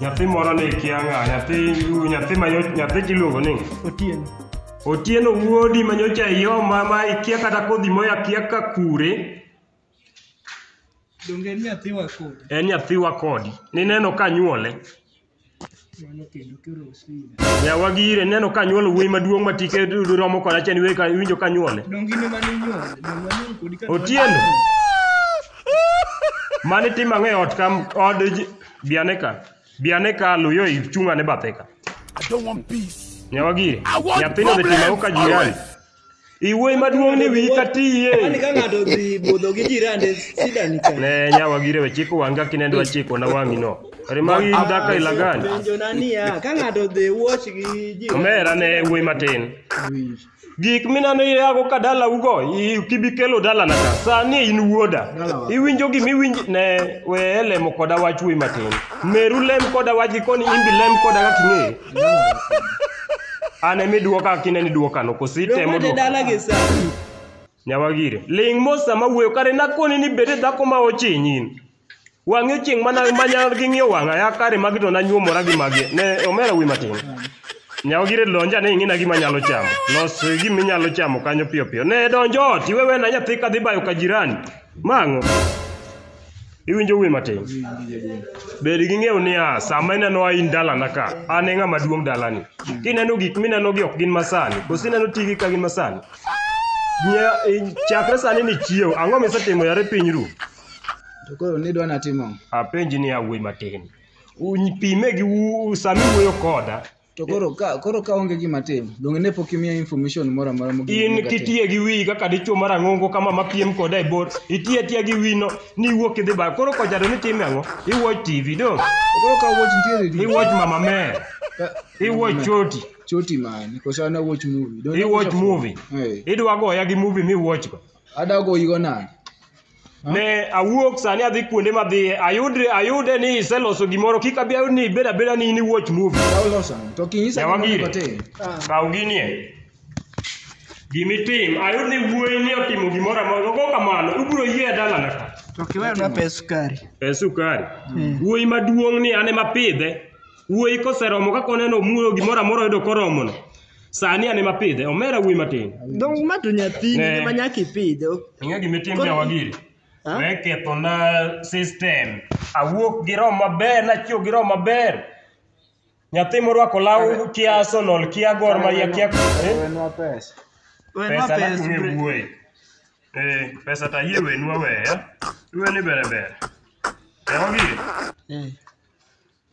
nyathi moro ni kia ng'a nyathi nyathi ma nyathi kiluongo ni otieno otieno wuodi ma nyocha ioma ma ikia kata kodhi moya kia ka kure donge en nyathi wa kodi en nyathi wa kodi nineno ka nyuole yawa gire neno ka nyuolo wuoyi maduong' ma tike romo kod achani winjo ka nyuole otieno mane tim ang'e ot kam od Bi ane ka. Bi ane ka Luyo ichung' ane bathe ka. I don't want peace. Nyawagiri. I want Nyathino dhi timo ang'o ka problems jirani? always. Iwuoyi maduong' ni wiyi ka tiye. Kwani ka ng'ato odhi budho gi jirande sida ni kanye? Ne nyawagiri we chiko wanga kinendo achiko na wang'i no. Rimagi in dhaka ilagani. Penjona niya, ka ng'ato odhi watch gi jirande Omera ne wuoyi matin. sida ni kanye? Gik minano iyago ka dalaugo, i- kibikelo dalana ka. Sani in wuoda. Dalawa. Iwinjo gima iwinj ne we lemo koda wach wuoyi matin. Meru lem koda wach gikoni imbi lem koda kaka ing'eyo. An ema iduoka kaka ineno iduokano, koso itemo Romade duoka. dala gi sa. Nyawagire. Ling' mos sama wuoyo, kare nakoni ni bed dhako ma ochinyin. Wang'e chieng' mana manyal gi ng'iyo wang'a ya kare magi to nanyuomora gi magi. Ne omera wi matin. Nyawo gire lonja ne ing'ina gima nyalo chamo. Los gima inyalo chamo kanyo piyo piyo. Ne donjo ot iwewe na nyathi kadhi bayo ka jirani. Mang'o. Iwinjo wi matin. Bed gi ng'eyo niya, sama ineno ain dalana ka, an e ng'ama duong' dalani. Kineno gik minenogi ok gin masani, koso ineno tigi ka gin masani. Nya- i- Chakre sani ni chiew, ang'o misetimo yare piny ru? To koro nidwa natimo ang'o? Apenji ni awuoyi matin. Uny- Pime gi u- sami wuoyo koda. To koro ka koro ka onge gima tim, donge ne pok imiya information moro amora mogik In monego atim? kitiye gi wiyi kaka dichuo marang'ongo kama mapiem koda e bor. Itiye atiya gi wino ni iwuok idhi ba. Koro kojado ni time ang'o? Iwuoch TV do. To koro ka watch nitie redio. Iwuoch mama me. Ka- Iwuoch choti. Choti man, koso an awuoch movie. Don't I Iwuoch watch a- movie. Eh. Idwa goya gi movie miwuochgo. adagoyigo nade ne awuok sani adhi kuonde madhiye ayudre ayude ni iseloso gimoro kik abi ayud ni ibed abeda ni in iwatch movie ka uloso ang'o? to kinyisa Yawa gimoro gire. matin. kaw ginie gimitim ayud ni wuoyi ni otimo gimoro amoro go kamano ubiro yie dalana ka To kiweyo na pes sukari. e sukari wuoyi maduong' ni an ema pidhe wuoyi koseromo kaka oneno omulo gimoro amora oyudo koromono Sani an ema pidhe, omera wuoyi matin. Donge ma to nyathini Ne. ema nyaka ipidhe. ok- Ing'e gima itimo Koro- jawagiri? Ha? We kethona system. Awuok gi roho maber, nachiew gi roho maber. Nyathi morwako law kia Arsenal, kia Gor Mahia, kia... Eh? Wenwa pesa. Wenwa pesa pes, nakuwe bre. wuoyi. Eh, pesa ta yie wenwa we, eh? Iwe ni bere bere. Jawagiri, Eh.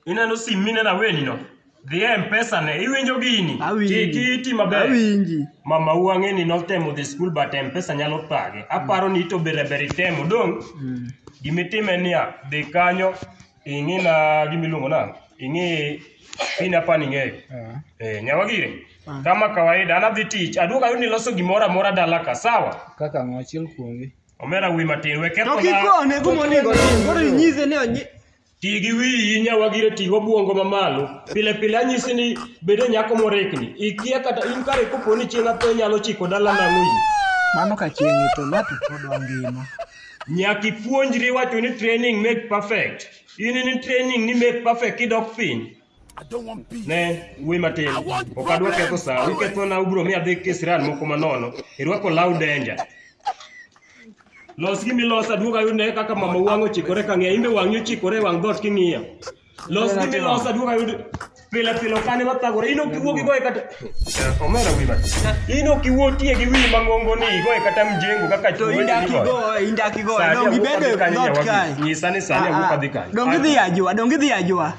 Ineno sim mineno aweni no? Dhi e Mpesa ne, iwinjo gini? Awinji. Ki- Kiti maber. Awinji. Mama u ang'e ni notemo dhi skul but Mpesa nyalo thage. Aparo ni to bere bere itemo dong. Gimitime niya, dhi kanyo ing'i na gimiluongo na, ing'i pin apa ni ng'eyo. Ah. Eh, nyawagire. Ah. Kama kawaida an adhi tich, aduogo ayud ni loso gimoro amora dala ka, sawa? Kaka ng'o achiel kuomgi. Omera wuyi matin, we To ketho na- kikone kuma onego otim. Koro inyise ni onyi- Ti gi wiyi nyawagire ti gobwongo mamalo. Pile pile anyisi ni bedo nyako morikni. Ikia kata in kare kopo ni chieng' atho inyalo chiko dala nang'o yi. Mano ka chieng' itho ng'ato pod ongima. Nyaka ipuonjri wacho ni training make perfect. In in training ni make perfect kidok piny. ne wuoyi matin ok adwa ketho sa ukethona ubiro mi adhi kisran moko manono irwako law denja los gi milos aduog ayud ne kaka mama wang' ochikore ka ng'iya imbe wang'i ochikore e wang' dhoot king'iya los gi milos aduog ayud pile pile okane mathagore in ok iwuo gi goye kata omera wi mati in ok iwuo tie gi wiyi mang'ongo ni igoye kata mjengo kaka to indaki go indaki go dongi bedo not kai nyisa ni sani awuok adhi kanyo dongi dhi ajua dongi dhi ajua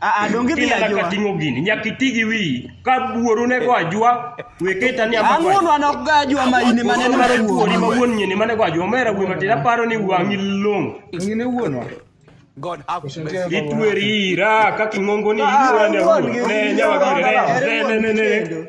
Aa, donge idhi Inyaka ajua. ting'o gini, nyaka iti gi wiyi. Ka buoru ne go ajwa, we keta ni amako. Ang'uono an ok ga ajua ma in ema neno Mano buori ma wuon nyini mane go ajwa, omera wuoyi matin, aparo ni wang'i long'. Ngine wuonwa. God have mercy. Itweri ira, kaka ing'ongo ni itwera ne wuon. Ne, nyawa gire, ne, ne, ne, ne, ne.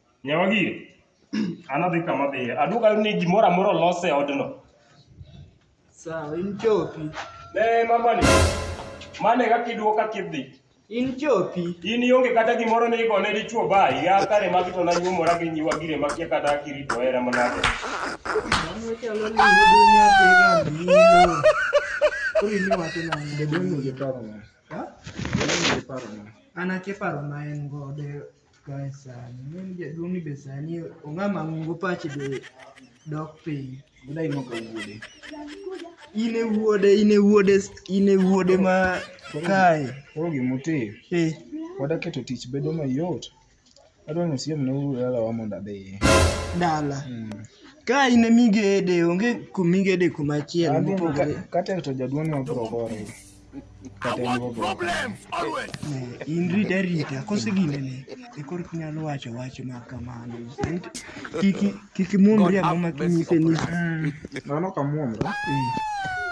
Nyawa gire. An adhi kama adhiye. Aduogo ayudo ni gimoro amora olos e odno. Sawa, in chopi. Ne mamani. Mane kaka iduogo kaka idhi. In chopi. In ionge kata gimoro ni igone dichwo bayi. Ya kare magi to nanyuomora gi nyiwa gire makia kata kirito hera manade. Mano chalo ni yudo nyathi gambino. Koro in iwacho nang'o? Jadolo nigi paro na. Ha? Jadolo nigi paro na. An akia paro ma en godo. Kae sani, mimi jaduong' ni be sani ong'a mang'ongo pache be dok piny. Odai moko wuode. In e wuode, in e wuode, in e wuode ma kae. Koro gimutimo, Eh, wada keto tich bedo mayot. Adwa ni usiem ne uru dalawa mondo adhi. dala. Ka in e migede, onge kumigede kumachielo Adhi mopogore. ka- kata to jaduong' ni wabiro gore. I want problems always. In rita rita, kose ginene, e kor kinyalo wacho wach ma kamano. Kiki kiki muomri ang'o ma kinyise ni. Mano ka muomra.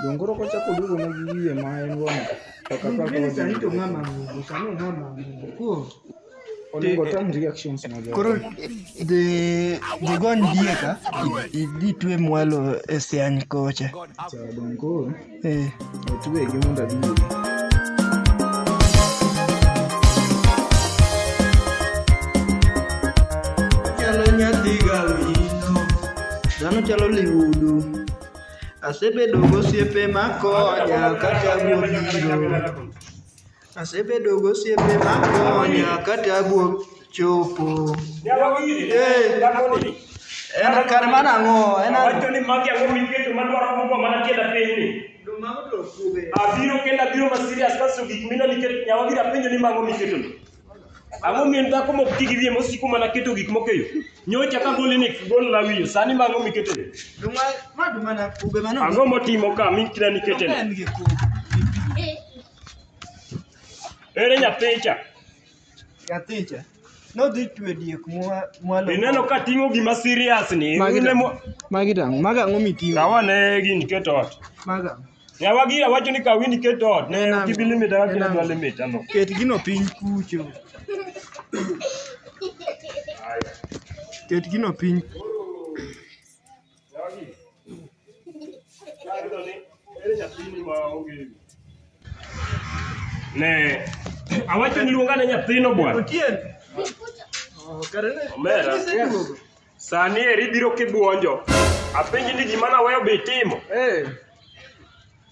Dongoro ko chako dugo na gi wiye ma en gono. Kaka kaka. Sani to mama, sani mama. Ko. Onego otam reactions na jo. Koro the the gon dieka idhi twe mwalo e siany kocha. Chadon koro. Eh. Otwe gi munda bibi. Chalo nyathi gawino. Dhano chalo liudu. Asebedo gosiepe makonya kata gobiro. Asebedo gosiepe ma konya ka tabu chopo. Nyalo gini. Eh. Nyalo gini. En kar mana ang'o? En ang'o? Wacho ni magi ang'o miketo madwaro mogo mana tienda piny ni. Abiro kendo abiro ma serious kaso gik mina nikech nyawa gira penjo ni mago miketo ni. Ang'o mien dhako mok ti gi wiye mosiko mana keto gik moko e yo. Nyocha ka goli ni gol la wiye sani mago miketo ni. Ang'o motimo ka mi kina nikete ni. Ere nyathicha? Nyathicha nodhi twe diek mwalo. Ineno ka ting'o gima serious ni. Magi tang'. Magi tang'. Maga ang'o miting'o? Kawa ne gini keto ot. Maga. Yawa gi awacho ni kawi ni keto ot. Ne tibi limit awa kina dwa limit ano. Ket gino piny kucho. Ket gino piny. Jogi. Kayudo ni ere nyathini ma onge wi. Ne awacho ni luonga ne nyathino bwana. Otieno. Oh, kare ne. Omera. Iseduogo. Sani eri biro kibuonjo. Apenji ni gima naweyo be itimo. Eh.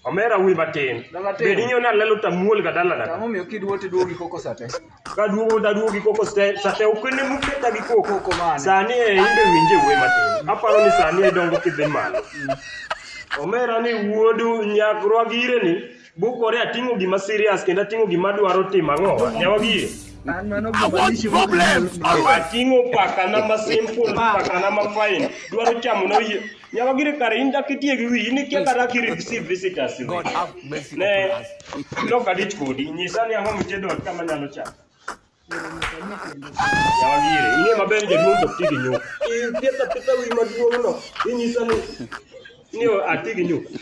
Omera wuoyi matin. Matin. Bed ing'eyo ni alelo to amuol ga dalana. Ang'o miyo kiduo to iduogo gi koko sate? Ka duogo to aduogo gi koko sate sate ok ne muketa gi koko. Koko mane? Sani e imbe winje wuoyi matin. Aparo ni sani e dongo kidhi malo. Omera ni wuodu nyakrwa gire ni bukore ating'o gima serious kendo ating'o gima dwaro timo ang'o. Nyawa gire. An mano I gima want dishi koko problems nyalo- always. Ating'o pakana ma simple, pakana ma fine. Dwaro chamo na oyie. nyaka gire kare in dak itie gi wiyi nikia kata ki receive visitors in God have mercy ne upon us. lok adich kodi nyisa ni ang'o mitedo ot kama nyalo chamo yawa gire ing'e maber ni jaduong' to ok ti gi nyuka ipitho apitha wi maduong'no inyisa ni ni ati gi nyuka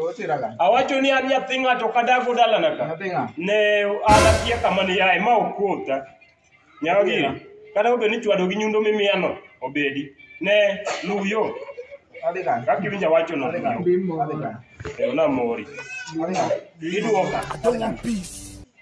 Otiraga. Awacho ni an nyathi ng'ato kadago dalana ka. Nyathi ng'a? Ne an akia kama ni ae ma okuota. Nyaka gire. Kata obedo ni chwado gi nyundo mimiyano obedi. Ne luw yo. Adhi kanye? Kaka iwinjo awacho no. Adhi kanye? Adhi kanye? Kendo namori. Adhi kanye? Idwoka. I don't want peace.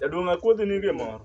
Jaduong' akwedhi ni gimoro.